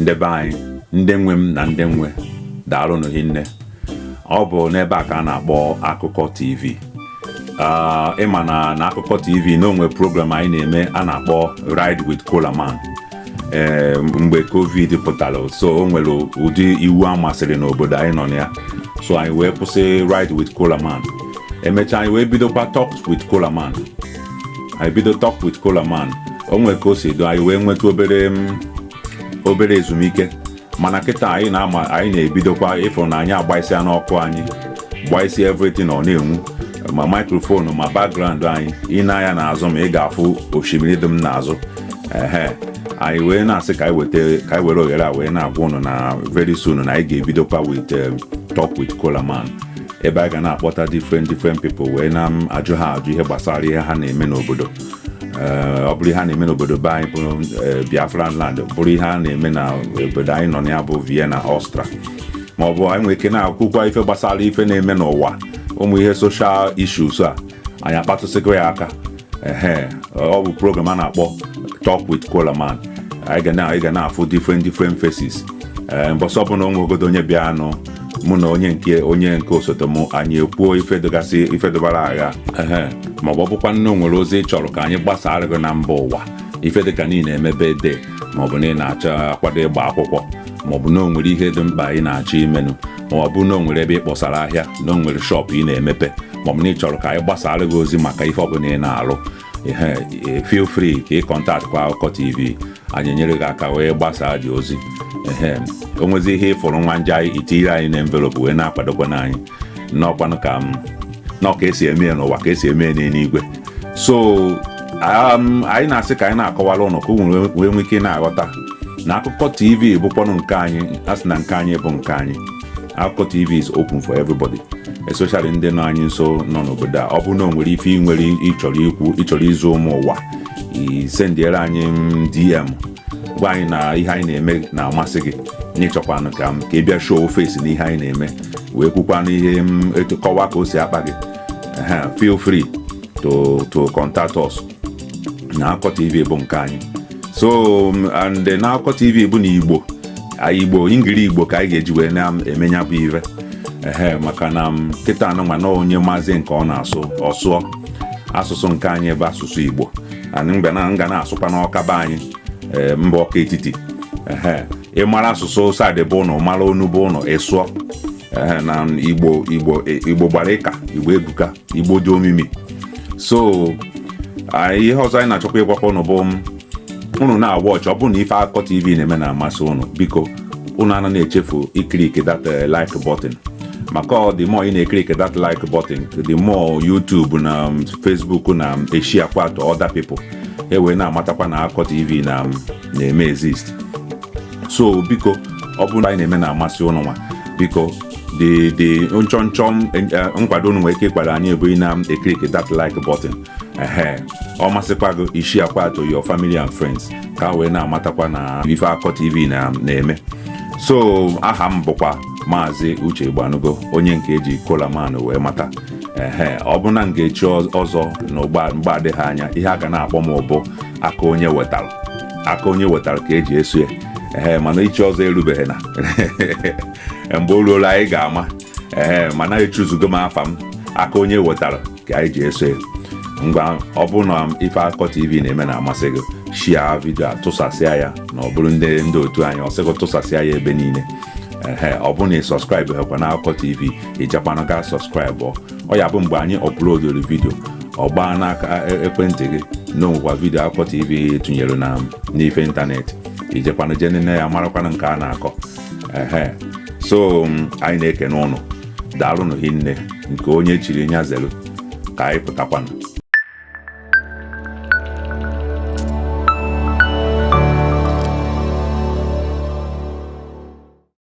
ndị be anyị ndị nwe m na ndị nwe daalụnụ hinne ọ bụ n'ebe a ka a na-akpọ akụkọ tv ah, ịma na na akụkọ tv na o nwe program anyị na-eme a na-akpọ ride with kolaman ee eh, mgbe covid pụtara so o nwere ụdị iwu a masịrị n'obodo anyị nọ na ya so anyị wee kwụsị ride with kolaman emechaa anyị wee bidokwa talk with kolaman anyị bido talk with kolaman o nwere ka o si do anyị wee nweta obere mm, obere ezumike mana kịta anyị na-ama anyị na-ebidokwa ị fụ na anyị agbaisia n'ọkụ anyị gbaisi everything ọ na-enwu ma microphone ma background anyị i nee anya n'azụ m ị ga-afụ osimiri dị m n'azụ ehe anyị wee na-asị ka anyị weta ka anyị were ohere a wee na-agwa ụnụ na very soon na anyị ga-ebidokwa with um, talk with Kolaman ebe anyị ga na-akpọta different different people wee na-ajụ ha ajụ ihe gbasara ihe ha na-eme n'obodo ọ bụrụ ihe a na-eme n'obodo be anyị bụ Biafra land bụrụ ihe a na-eme na obodo anyị nọ na ya bụ Vienna Austria ma ọ bụ anyị nwere ike na-ekwukwa ife gbasara ife na-eme n'ụwa ụmụ ihe social issues a anyị akpatụsịkwa ya aka ee ọ bụ program a na-akpọ Talk with Kolaman anyị ga na-afụ different different faces mbọsị ọbụla o nwegodu onye bịanụ mụ na onye nke onye nke osote m anyị ekwuo ife dịgasị ife dịbara agha ehe ma ọ bụ ọ bụkwanụ na o nwere ozi ị chọrọ ka anyị gbasaara gị na mba ụwa ife dịka na ị na-eme birthday ma ọ bụ na ị na-achọ akwado ịgba akwụkwọ ma ọ bụ na o nwere ihe dị mkpa ị na-achọ imenụ ma ọ bụ na o nwere ebe ị kpọsara ahịa na o nwere shop ị na-emepe ma ọ bụ na ị chọrọ ka anyị gbasaara gị ozi maka ife ọbụla ị na-alụ ehe, feel free ka ị contact kwa akụkọ tv anyị enyere gị aka wee gbasaa gị ozi ehe o nwezi ihe ị fụrụ nwa nje anyị i tinyere anyị na envelope wee na-akwadokwanụ anyị n'ọkwanụ ka m nọ ka esi eme ya n'ụwa ka esi eme ya n'eluigwe so um, anyị na-asị ka anyị na-akọwara ụnụ ka ụnụ wee- wee nwee ike na-aghọta na akụkọ tv bụkwanụ nke anyị a sị na nke anyị bụ nke anyị Akụkọ TV is open for everybody especially ndị nọ anyị nso nọ n'obodo a ọ bụrụ na o nwere ife ị nwere ị chọrọ ikwu ị chọrọ izi ụmụ ụwa i sendiere anyị mm, DM gwa anyị na ihe anyị na-eme na-amasị gị na ị chọkwanụ ka m ka ị bịa show face na ihe anyị na-eme wee kwukwanụ ihe m etu kọwa ka o si akpa gị Ehe, feel free to to contact us na akụkọ tv bụ nke anyị so um, and na akụkọ tv bụ na igbo igbo ingiri igbo ka anyị ga-eji wee na-eme nya bụ ive ehe maka na um, kịta nwa na onye amazị nke ọ na-asụ ọ sụọ asụsụ nke anyị bụ asụsụ igbo anyị mgbe na nga na-asụkwa n'ọka be anyị eh, mba ọka etiti ehe ị mara asụsụ side be ụnụ mara onu be ụnụ ị sụọ ee na igbo igbo igbo gbara ịka igbo ebuka igbo dị omimi so anyị ihe ọzọ anyị na-achọkwa ịgwakwa ụnụ bụ ụnụ na-awatch ọ bụrụ na ife akụkọ tv na-eme na-amasị ụnụ biko ụnụ ana na-echefu iclick that like button maka the more ị na-eclick that like button the more YouTube na Facebook na-esharekwa to other people e wee na-amatakwa na akụkọ tv na na-eme exist so biko ọ bụrụ na anyị na-eme na-amasị ụnụ nwa biko the the nchọnchọ nkwado ụnụ nwere ike ịkwado anyị bụ ị na-eclick that like button ehe ọ masịkwa gị i sharekwaa to your family and friends ka ha wee na-amatakwa na ife akụkọ tv na-eme so aha m bụkwa maazị uche igbanugo onye nke e ji kolaman wee mata ehe ọ bụrụ na m ga-echi ọzọ na mgbe adịghị anya ihe a ga na-akpọ m bụ aka onye wetara aka onye wetara ka e ji eso ya ee mana ichi ọzọ erubeghị na mgbe o ruru anyị ga-ama ee mana echoosego m afa m aka onye wetara ka e ji eso ya ngwa ọ bụrụ na ife akụkọ tv na-eme na-amasị gị share vidio a tụsasịa ya na ọ bụrụ ndị ndị otu anyị ọ sị gị tụsasịa ya ebe niile ee ọ bụrụ na ị subscribehekwa na akụkọ tv i jekwanụ gaa subscribe ọ ya-abụ mgbe anyị uploadụrụ vidio ọ gbaa n'aka e, ekwentị gị na o nwekwa vidio akụkọ tv tụnyere na n'ife ịntanetị i jekwanụ je nene ya marakwanụ nke a na-akọ ehe so anyị na-ekene ụnụ daalụnụ hinne nke onye chiri nya zelu ka anyị pụtakwanụ